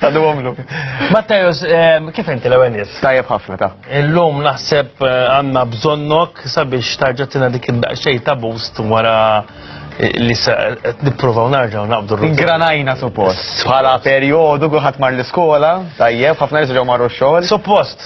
Għadu għomlu. Mattajos, ehm, kif inti l għenis Tajjeb ħafna ta. Illum naħseb eh, għanna bżonnok sabiex tarġatina dik id-daqxej ta' boost wara eh, li se qed nipprovaw narġaw naqbdu r Granajna suppost. Bħala perjodu kuħat mar l-iskola, tajjeb, ħafna jiġu marru x-xogħol. Suppost.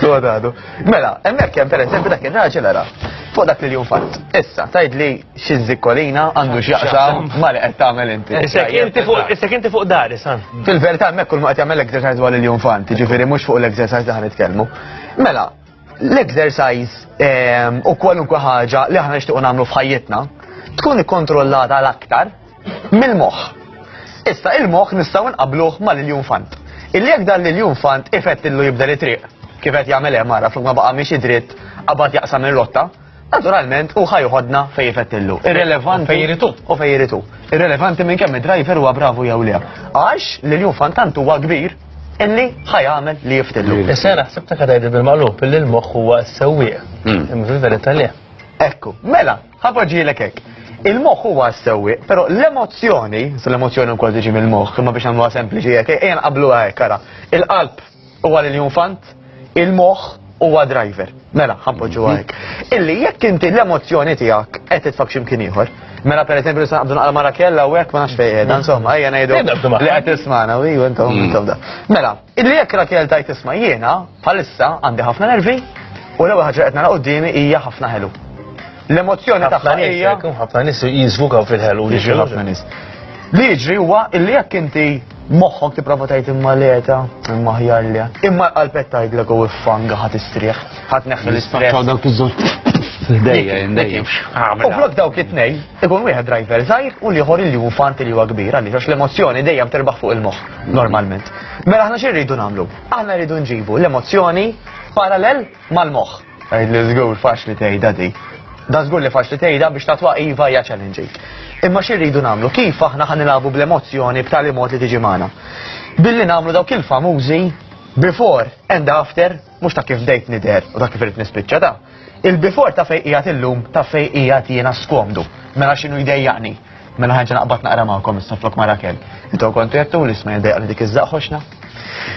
Sodadu. Mela, emmek jem per eżempju dak il-raġel għara. Fuq dak li jum fatt. Issa, tajd li xizzikolina għandu xjaqsam ma li għetta għamel inti. Issa kinti fuq dari, san. Fil-verta emmek kull ma għetta għamel l-exercise għal il-jum fatt, ġifiri mux fuq l-exercise li għan itkelmu. Mela, l-exercise ehm, u kwalunkwe ħaġa li ħana nishtiqu namlu f'ħajjitna tkun ikkontrollata l-aktar Mill-moħħ. Issa il-moħħ nistgħu nqabluh ma' Liljun Fant. Illi jekk dan Liljun Fant ifettillu jibdel it-triq, kif qed jagħmel hemm ara flok ma baqa' miexi dritt qabad jaqsam ir-rotta, naturalment u ħajħodna fej jifettillu. Irrelevanti. Fej jiritu. U fej jiritu. Irrelevanti minn kemm id-driver huwa bravu jew le. Għax li l-jum fantant huwa kbir illi ħajamel li jiftillu. Issa naħseb ta' kadajdi bil-malub illi l-moħħ huwa s-sewwieq. Hmm. Imma fil-verità le. Ekku, mela, Ħa poġġielek hekk. Il-moħħ huwa s-sewwieq, però l-emozzjoni, se l-emozzjoni wkoll tiġi mill-moħħ, imma biex nagħmluha sempliċi hekk, ejja nqabbluha hekk ara. Il-qalb huwa lil fant, il-moħħ huwa driver. Mela, ħampoġġu hekk. Illi jekk inti l-emozzjoni tiegħek qed titfak x'imkien ieħor. Mela per eżempju nista' naqbdu naqra mara kella u hekk ma nafx fejn qiegħda, insomma, ejja ngħidu li qed tismana, u intom intom da. Mela, Illi jekk Rakel tajt isma' jiena bħalissa għandi ħafna nervi u l-ewwel ħaġa qed nara qudiemi hija ħafna ħelu. L-emozzjoni tagħha hija ħafna nies jiżvukaw fil-ħelu li ħafna nies. Li jiġri huwa illi jekk inti moħħok tipprova tgħid imma leta, imma ħjar li. Imma l-qalbet tgħidlek u iffanga ħadd istrieħ, ħadd neħħel l-istrieħ. dawk iż-żewġ U flok dawk it-tnej, ikun wieħed driver żgħir u liħor li hu fanti li huwa kbir għaliex għax l-emozzjoni dejjem terbaħ fuq il-moħħ. Normalment. Mela aħna xi rridu nagħmlu? Aħna rridu nġibu l-emozzjoni parallel mal-moħħ. Għid li żgur faċli tgħidha di. Da żgur li faċli tgħidha biex tatwa iva hija challenging. Imma xi rridu nagħmlu? Kif aħna ħan nilagħbu bl-emozzjoni b'tali mod li tiġi magħna? Billi nagħmlu dawk il-famużi before and after Mhux ta' kif bdejt nidher u ta' kif irid nispiċċa ta'. Il-bifor ta' fejn qiegħed illum ta' fejn qiegħed jiena skomdu. Mela x'inhu jdejjaqni? Mela ħanġa naqbad naqra magħkom issa flok ma' Rakel. Intom kontu jettu li isma' jdejjaqni dik iż-żaq ħoxna.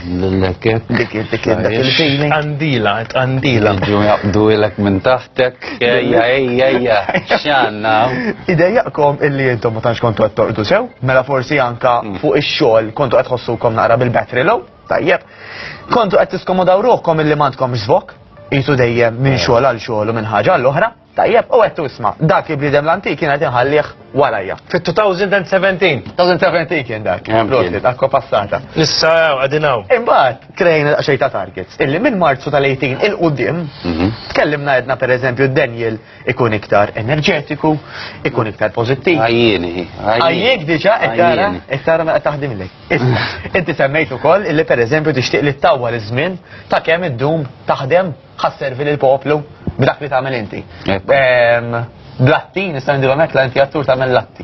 L-lekket. Dik dik dik il-feeling. Għandila, għandila. Ġu jaqbdu ilek minn taħtek. Ejja, ejja, ejja. Xanna. Idejjaqkom illi intom ma tantx kontu qed torqdu sew, mela forsi anka fuq ix-xogħol kontu qed ħossukom naqra bil-battery low. Tajjeb, kontu qed tiskomodaw ruħkom illi m'għandkomx żvok, jitu dejjem minn eh. xogħol għal xogħol u minn ħaġa għall oħra Tajjeb, u għettu isma, dak il-bnidem l-antik kien għet inħallieħ warajja. Fit-2017, 2017 kien dak, prosti, dak passata. Issa għadinaw. Imbat, krejn xej ta' targets, illi minn marzu tal-18 il-qoddim, mhm. tkellimna għedna per eżempju Daniel ikun iktar enerġetiku, ikun iktar pozittiv. Għajjini, għajjini. Għajjik diġa, ekkara, ekkara ma taħdim lejk. Inti semmejt ukoll illi pereżempju tixtieq li ttawwal iż-żmien ta' kemm iddum taħdem ħa sservi lill-poplu b'dak li tagħmel inti. Bl-atti, nista' ngħidilhom hekk, la inti attur tagħmel l-atti.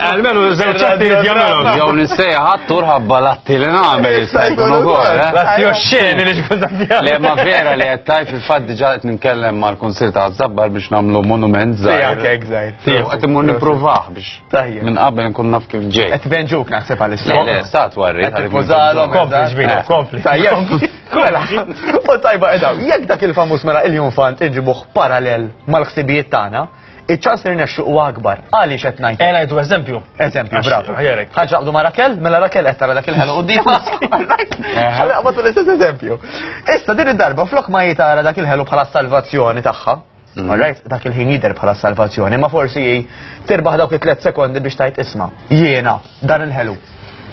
Almenu żewġ atti li jagħmelhom. Jew nissejjaħ attur ħabba l-atti li nagħmel jista' jkun ukoll. eh? L-atti u x-xeni li ġkun ta' fjam. Le ma vera li qed tajt fil-fatt diġà qed nitkellem mal-Kunsill ta' Zabbar biex nagħmlu monument żgħir. Tiegħek hekk żgħir. Jew qed immur nippruvaħ biex Tajjeb. Minn qabel nkun naf kif ġej. Qed venġuk naħseb għal Le, stat warri. Qed tippużalhom. Kompli ġbina, kompli. Tajjeb. Mela, u tajba edaw, jekk dak il-famuż mela il-junfant inġibuh parallel mal-ħsibijiet tagħna, iċ-ċans li nexxu huwa akbar. Għaliex qed ngħid. Ejna jdu eżempju. Eżempju, bravo. Ħaġa għabdu ma' Rakel, mela Rakel qed tara dak il-ħelu quddiem. Ħalli qabad l-istess eżempju. Issa din id-darba flok ma jitara dak il-ħelu bħala salvazzjoni tagħha, Alright, dak il-ħin jidher bħala salvazzjoni, ma forsi hi tirbaħ dawk it-tlet sekondi biex tajt isma. Jiena, dan il-ħelu.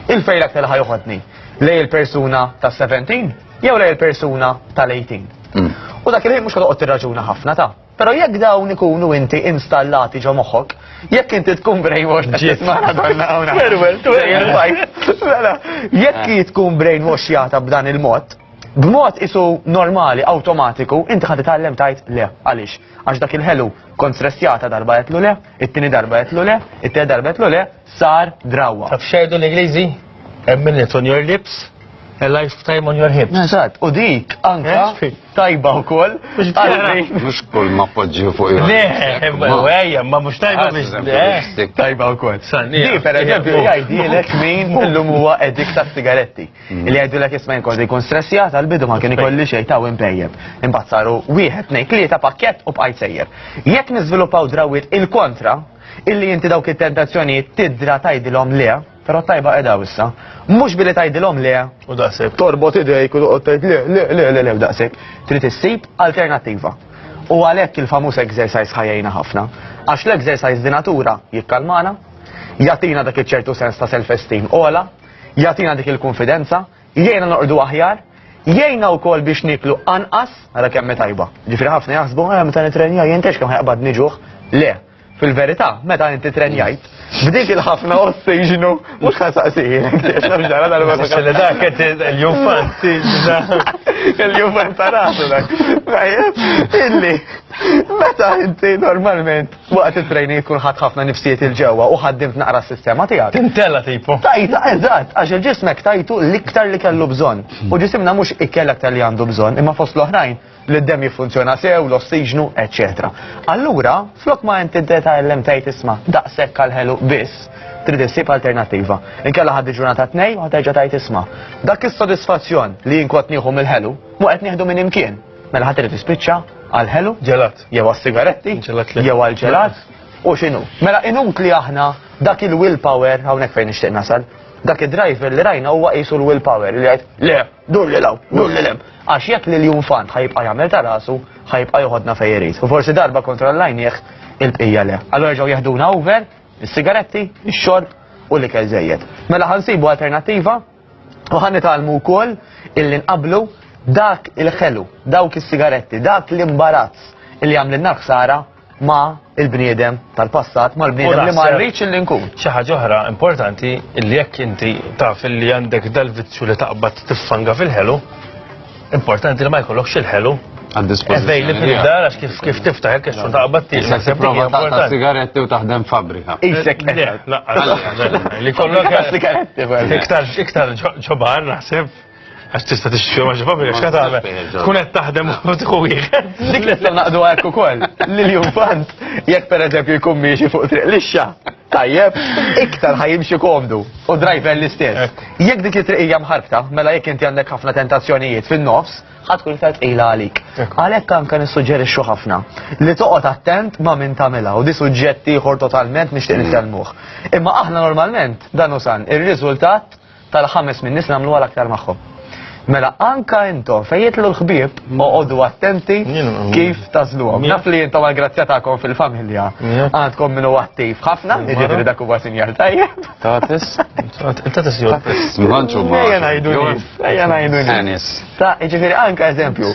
Il-fejl aktar ħajuħodni lej il-persuna ta' 17 jew lej il-persuna tal-18. Mm. U dak il-ħin mhux ħadoqgħod tirraġuna ħafna ta' Pero jekk dawn ikunu inti installati ġo moħħok, jekk inti tkun brainwash ġiet Maradonna hawnha. Jekk tkun brainwash jata b'dan il-mod, b'mod isu normali, awtomatiku, inti ħad titgħallem tajt le. Għaliex? Għax dak il-ħelu kont stressjata darba qed le, it-tieni darba qed le, it-tieni darba qed le, sar drawwa. Taf xejdu l-Ingliżi? A minute on your lips, a lifetime on your hips. Eżatt, u dik anka eh? tajba wkoll. Mhux kull ma poġġi fuq il Le, ejja, ma mhux tajba biex. Eh? Tajba wkoll. Di per eżempju jgħidilek min illum huwa edik ta' sigaretti. Li jgħidu l-ek jisma jinkoll li jkun stressjat għal-bidu ma kien ikolli xej ta' impejjeb. Imbagħad saru wieħed ngħid li ta' pakkett u bqajt sejjer. Jekk niżviluppaw drawwiet il-kontra, illi inti dawk it-tentazzjonijiet tidra tgħidilhom le, però tajba qiegħda issa. Mhux billi tgħidilhom le u daqshekk torbot idejk u toqgħod tgħid le le le le le daqshekk. Trid issib alternattiva. U għalhekk il-famuż exercise ħajjejna ħafna. Għax l-exercise di natura jikkalmana, jatina dak iċ-ċertu sens ta' self-esteem ola, jagħtina dik il-kunfidenza, jgħinna noqogħdu aħjar, jgħinna wkoll biex niklu anqas, ara kemm tajba. Ġifieri ħafna jaħsbu eh, meta nitrenja jintex kemm ħajqbad niġuħ. Le, Fil-verità, meta inti trenjajt, b'dik il-ħafna ossiġnu, mux ħan saqsijin, li dak qed il-jufan tiġna. Il-jufan ta' rasu dak. Illi, meta inti normalment Waqt it-training tkun ħadd ħafna nifsijiet il ġewwa u ħaddimt naqra s-sistema tiegħek. Tintella tipo. Tajta, eżatt, għax il-ġismek tajtu l-iktar li kellu bżonn. U ġisimna mhux ikkel aktar li għandu bżonn, imma fost l-oħrajn li d-demm jiffunzjona sew, l-ossiġnu, eċċetera. Allura, flok ma inti tgħallem tgħid isma' daqshekk għal ħelu biss, trid issib alternattiva. Inkella ħaddi ġurnata tnejn u ħaterġa' tgħid isma'. Dak is-sodisfazzjon li jien kont nieħu mill-ħelu, mu qed nieħdu minn imkien. Mela ħadd irid jispiċċa għal ħelu, ġelat, jew għas-sigaretti, jew għal ġelat, u x'inhu. Mela inut li aħna dak il-willpower hawnhekk fejn nixtieq nasal. Dak id-driver li rajna huwa qisu l-willpower li jgħid le, dur li law, dur li lem. Għax jekk li l-jum fant ħajbqa' jagħmel ta' rasu, ħajbqa' joħodna fejn irid. U forsi darba kontrollajnieh il-bqija le. Allora ġew jeħduna over, is-sigaretti, ix-xorb u l-ikel żejjed. Mela ħansibu alternattiva U ħan nitalmu wkoll illi nqablu dak il-ħelu, dawk is-sigaretti, dak l-imbarazz li għamlilna ħsara ma il-bniedem tal-passat, ma l-bniedem li ma rridx li nkun. Xi ħaġa oħra importanti li jekk inti taf li għandek dal-vizzju li taqbad tiffanga fil-ħelu, Importanti li ma jkollokx il-ħelu Għad-dispożizzjoni. Ejli fil-dar, għax kif tiftaħ il-kex u taqba t-tiex. Issa se prova ta' sigaretti u taħdem fabrika. Isek, li kollok ta' sigaretti. Iktar, iktar ġobar, naħseb. Għax tista t-xċu maġi fabrika, xka taħbe. Tkun qed taħdem u tħu wieħed. Dik li naqdu għek ukoll. Lil jumfant, jekk per eżempju jkun miexi fuq triq lixxa. Tajjeb, iktar ħajimxi komdu u driver l-istess. Jekk dik it-triqija mħarbta, mela jekk inti għandek ħafna tentazzjonijiet fin-nofs, ħatkun iktar tqila għalik. Għalhekk anke nissuġġerixxu ħafna li toqgħod attent ma' min tagħmilha u di suġġett ieħor totalment nixtieq nitkellmuh. Imma aħna normalment dan usan ir-riżultat tal-ħames min-nies li nagħmluha l-aktar magħhom. Mela anka intom fejn jitlu l-ħbieb mm. oqogħdu attenti kif tażluhom. Naf li intom għall-grazzja tagħkom fil-familja għandkom minnu attiv ħafna, jiġifieri dak huwa sinjal tajjeb. Tatis, tatis jgħid. Ejja ngħidu ejja ngħidu Ta' jiġifieri anka eżempju,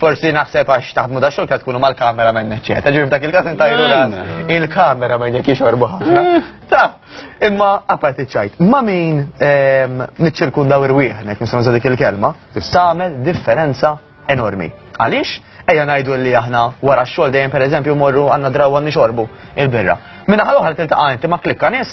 Forsi naħseb għax taħdmu da xogħol tkunu mal-kamera men eċċetera. Ġifieri f'dak il-każ intajru ras il-kamera men jekk jixorbu ħafna. Eh. Ta, imma apparti ċajt, ma min ehm, niċċirkundaw irwieħnek nisma' dik il-kelma, tagħmel differenza enormi. Għaliex? Ejja ngħidu li aħna wara x-xogħol dejjem pereżempju morru għandna draw għandni xorbu il-birra. Minna ħal oħra tiltaqa' inti ma' klikka nies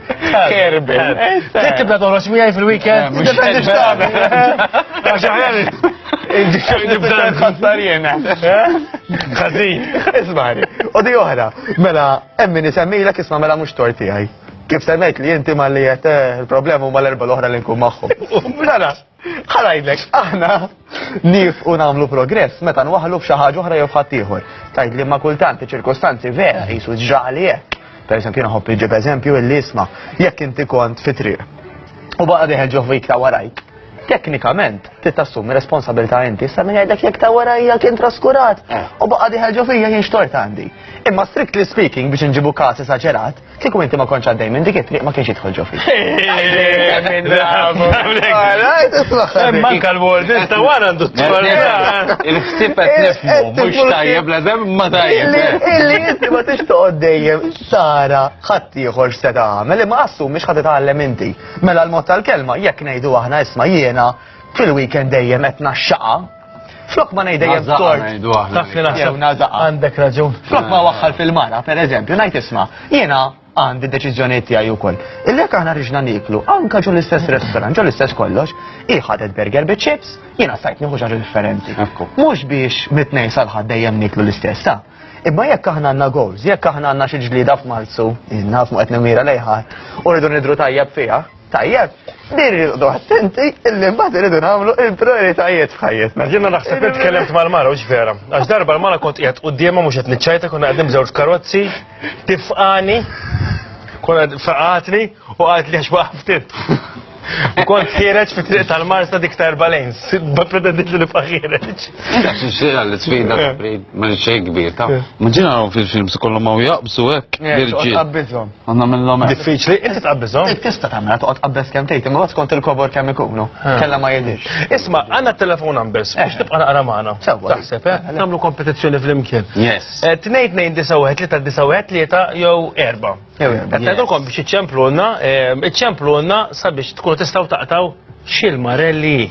Kerbin. Dik tibda toħroġ miegħi fil-weekend. Nibda nħassar jena. Għazin. Ismari. U di oħra, mela, emmi nisemmilek isma mela mux tor tiegħi. Kif semmejt li inti ma li jete eh, il-problemu ma l-erba l-oħra li nkun maħħu. Mela, Ħa ngħidlek, aħna nifqu nagħmlu progress meta nwaħħlu f'xi ħaġa oħra jew f'ħadd ieħor. Tgħid li ma kultant iċ-ċirkostanzi vera qisu ġrali hekk. Per eżempju, jiena ħobb iġib eżempju illi isma' jekk inti kont fi triq u baqa' deħel ġo fik ta' warajk. Teknikament, trid tassumi responsabilità inti, issa min jgħidlek jekk ta' warajja kien traskurat u baqa' deħel ġo fija jien xtort għandi. Imma strictly speaking biex inġibu każ esaġerat, Kieku inti ma konċ għaddej minn dik it-triq ma kienx jidħol ġofi. Manka l-word, sta wara għandu Il-ħsib qed nifmu, mhux tajjeb la dem ma tajjeb. Illi inti ma tix toqgħod dejjem sara ħadd ieħor se tagħmel, imma assu mhux ħadd tagħlem inti. Mela l-mod tal-kelma jekk ngħidu aħna isma' jiena fil-weekend dejjem qed naxxaqa Flok ma ngħid dejjem tort. Taf li naħseb għandek raġun. Flok ma waħħal fil-mara, per eżempju, ngħid isma' jiena għandi deċiżjonijiet tiegħi wkoll. Illek aħna riġna niklu, anka ġo l-istess restaurant, ġo l-istess kollox, hi ħadet burger bi chips, jiena sajt nieħu ġaġa differenti. Mhux biex mitnej salħad dejjem niklu l-istess, ta' Imma jekk aħna għandna goals, jekk aħna għandna xi ġlieda f'Marzu, inna f'muqet nemira lejħat, u rridu nidru tajjeb fiha, Tajjeb, din irridu attenti illi mbagħad irridu nagħmlu il-prioritajiet f'ħajjitna. Jiena naħseb li tkellimt mal-mara u vera. Għax darba l-mara kont qiegħed quddiemha mhux qed niċċajta konna qegħdin b'żewġ karozzi, tifqani, konna faqatni u għad li għax waqftit. U kont ħireġ fi triq tal-Marsa dik ta' erba' lejns, ma pretendit li nibqa' ħireġ. Xira li sfida ma xejn kbir ta'. Ma ġina fil-films kollhom ma jaqbsu hekk. Jirġi. Ma nagħmilhom hekk. Diffiċli, inti tqabbiżhom. Int tista' tagħmilha toqgħod tqabbeż kemm tgħid, imma skont il-kobor kemm ikunu. Kellha ma jidhirx. Isma', għandna t-telefon għambes, biex tibqa' naqra magħna. Sewwa. Taħseb, eh? Nagħmlu kompetizzjoni flimkien. Yes. Eh, Tnejn tnejn disa' wieħed tlieta disa' wieħed tlieta jew erba'. Jew erba', Qed yes. ngħidulkom biex iċċemplulna, eh, iċċemplulna sabiex tkunu tistgħu taqtaw x'ilmarelli.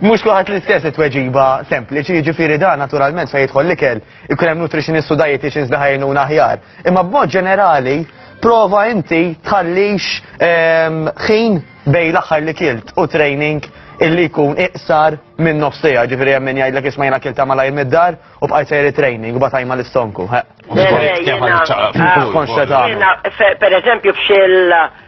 Mhux kulħadd l-istess it-tweġiba sempliċi, jiġifieri dan naturalment fejn jidħol l-ikel, ikun hemm nutritionist u dietitians li ħajnuna aħjar. Imma b'mod ġenerali, prova inti tħallix ehm, ħin bej l-aħħar li kilt u training illi jkun iqsar minn nofsija, ġifiri għemmin jgħidlek isma jena kilta ma lajm id-dar u bqajt sejri training u batajma l-istonku. Konxeta. Per eżempju, bxil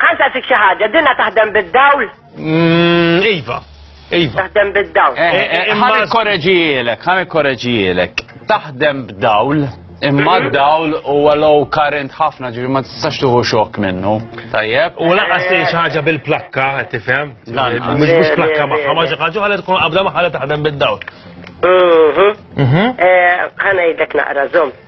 Ħa nsaqsik xi ħaġa, dinha taħdem bid-dawl? Mm, iva. Iva. Taħdem bid-dawl. Eh, eh, eh, ħa nikkoreġijielek, ħa nikkoreġijielek. Taħdem b'dawl, imma d-dawl u low current ħafna ġifi ma tistax tuħu xok minnu. Tajjeb. U laqas li xi ħaġa bil-plakka, qed tifhem? Mhux mhux plakka magħha, ma xi ħaġa ħalli tkun qabda magħha taħdem bid-dawl. Mhm. Mhm. Ħa ngħidlek naqra żomm.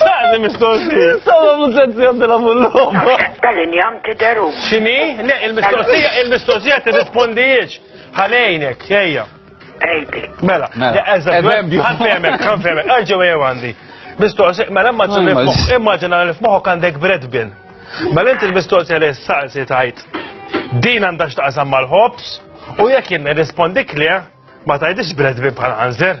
Saqni mistoqsija. Sama muzzenzjon della mulloba. Tal-injam tideru. Xini? Le, il-mistoqsija, il-mistoqsija t-rispondijiex. Ħalejnek, ejja. Ejbi. Mela, mela. eżempju. Għanfemek, għanfemek, għagġu għew għandi. Mistoqsija, mela imma immaġina li f'moħok għandek bread bin. Mela inti l-mistoqsija li s-saqsi tajt. Din għandax taqsam mal-ħobs u jekk jirrispondi kli, ma tajdix bread bin bħal għanżer.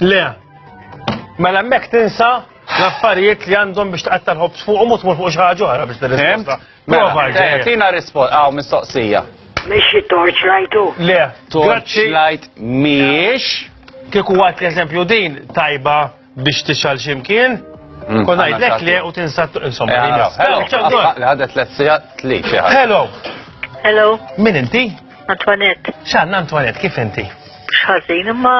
Le. Mela mek tinsa l-affarijiet li għandhom biex tqatta l-ħobs fuq u mut mur fuq xaħġu għara biex t-risposta. Mela, Prova, eh, tina risposta, għaw mistoqsija. Mexi torch lajtu? Le. Torch lajt miex. Kieku għat l-eżempju din tajba biex tixal ximkien, mm, kon għajdlek li u tinsat, insomma, eh, li Hello. Hello. Min inti? Antoinette. X'għandna Antoinette, kif inti? X'ħażin, imma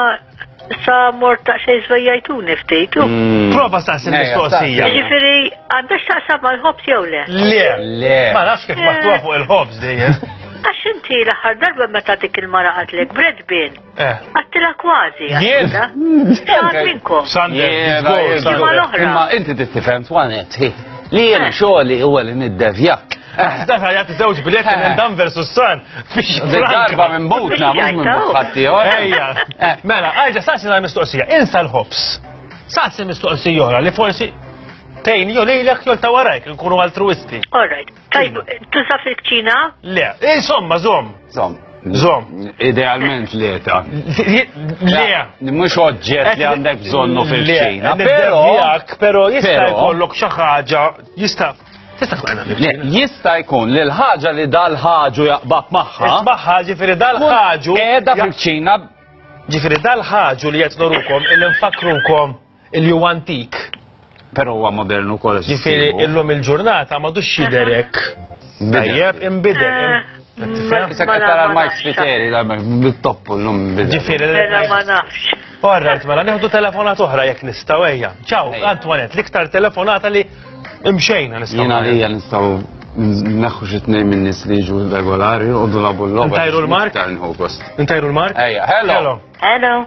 sa mort ta' xej żvejjajtuni ftit. Mm. Prova staqsi mistoqsija. Ġifieri għandha x'taqsam mal-ħobż jew le? Le, le. Ma nafx kif maħtuha eh. fuq il-ħobż dejjem. Għax inti l-aħħar darba meta dik il-mara qatlek bredbin. Eh. Għattila kważi. Jien. Xaħat minnkom. Sander. Imma inti tittifem twanet. Li jen eh. xoli u għalin id-devjak. Eh. Dan għajat zewġ bilet minn dan versus san. Fix darba minn butna, minn butħatti. Ejja. Mela, għajġa sassi għal mistoqsija. Insa l-ħobs. Sassi mistoqsija jora li forsi tejn jolilek jol tawarajk, nkunu altruisti. All right. Tajb, tuża fil-kċina? Le, insomma, zom. Zom. Zom. Idealment le ta. Le. Mux oġġet li għandek bżonnu fil-kċina. Pero, pero jista' jkollok xi ħaġa, jista' Jista' jkun li l-ħaġa li dal-ħaġu jaqbab magħha. Isbaħħa ġifieri dal-ħaġu. Qiegħda fil-kċina. Ġifieri dal-ħaġu li qed norukom il-infakrukom Illi huwa antik. Però huwa modern ukoll qed Jifieri issibu. illum il-ġurnata m'għadux jidher hekk. Tajjeb, inbidel. Eh, im- Tifhem? Issa qed tara l-Mike Spiteri da bit-toppu llum bidel. Ġifieri li Mela ma nafx. Alright, mela nieħdu telefonat oħra jekk nistgħu ejja. Ciao, Ejja. Antoinette, l-iktar telefonata li imxejna nistgħu. Jiena nagħmlu. għalija nistgħu naħħu xi tnejn min-nies li jiġu regolari u dulabu l-logħba. Ntajru l-mark? Iktar nħu gost. Intajru l-mark? Ejja, hello. Hello.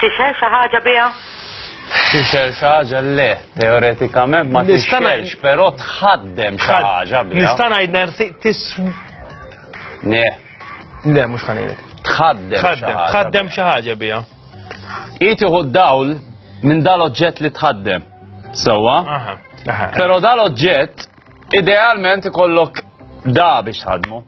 Tixhel xi ħaġa biha? Tixhel xi ħaġa le, teoretikament ma tixhelx, però tħaddem xi ħaġa biha. Nista' ngħid nersi tis. Ne. Le, mhux ħanejlek. Tħaddem. Tħaddem, tħaddem xi ħaġa biha. Itiħu d-dawl minn dal-oġġett li tħaddem. Sewwa? Però dal-oġġett idealment ikollok da biex tħaddmu.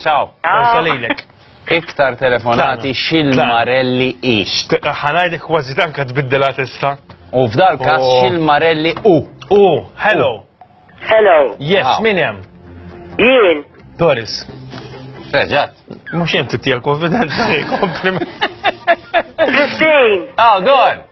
Ciao, forsa lejlek. Iktar telefonati xil-marelli i. Ħanajdi kważi tanka tbiddela tista. U f'dal kas oh. xil-marelli u. U, hello. Hello. Yes, ah. min jem? Jien. Doris. Reġat. Mux jem tittija konfidenza, kompliment. Christine. Oh, go on.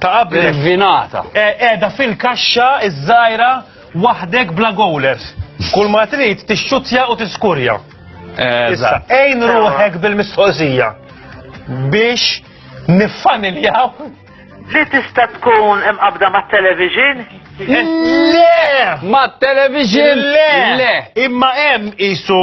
Ta' qabel. Irvinata. Qiegħda fil-kaxxa iż-żgħira waħdek bla gowlers. Kull ma trid tixxuttja u tiskurja. Issa, ejn ruħek bil-mistoqsija biex niffamiljaw li tista' tkun imqabda mat-television? Le! Mat-television? Le! Imma hemm isu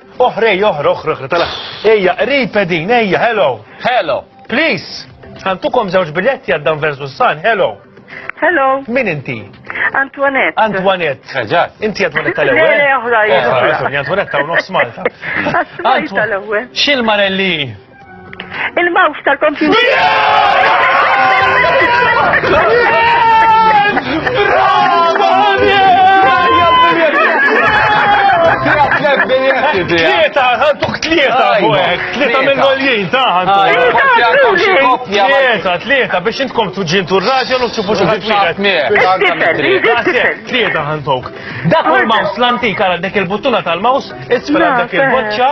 Oħrej oħr oħr oħr tala. Ejja, qrib edin, ejja, hello. Hello. Please. Għantukom żewġ biletti għaddan versus san, hello. Hello. Min inti? Antoinette. Antoinette. Eġat. Eh, inti Antoinette tal-ewwel. Le, oħra, oħra. Antoinette ta' nofs Malta. Antoinette tal-ewwel. Xil-marelli? Il-mouse tal-computer. Tlieta, għantuk tlieta, tlieta minn għoljien, taħan. Tlieta, tlieta, biex intkom tuġin tur raġja u txufu xaħat wieħed. Tlieta għantuk. Dak il-maus l-antik għal dak il-buttuna tal-maus, isfel dak il-boċċa.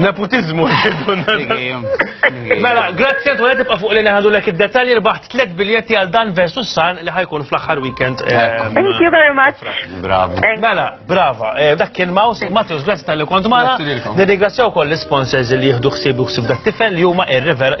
Nepotizmu Mela, grazzi għantu għedib fuq li neħadu l-ek id-detalji rbaħt 3 biljetti għal dan versus san li ħajkun fl-axar weekend. Eh, Thank you very much. Bravo. Mela, brava. Eh, dak kien Maus, Matthews, grazzi tal-li kont maħna. Nirringrazzjaw koll l-sponsors li jihdu xsibu xsib dak tifel li huma ir-river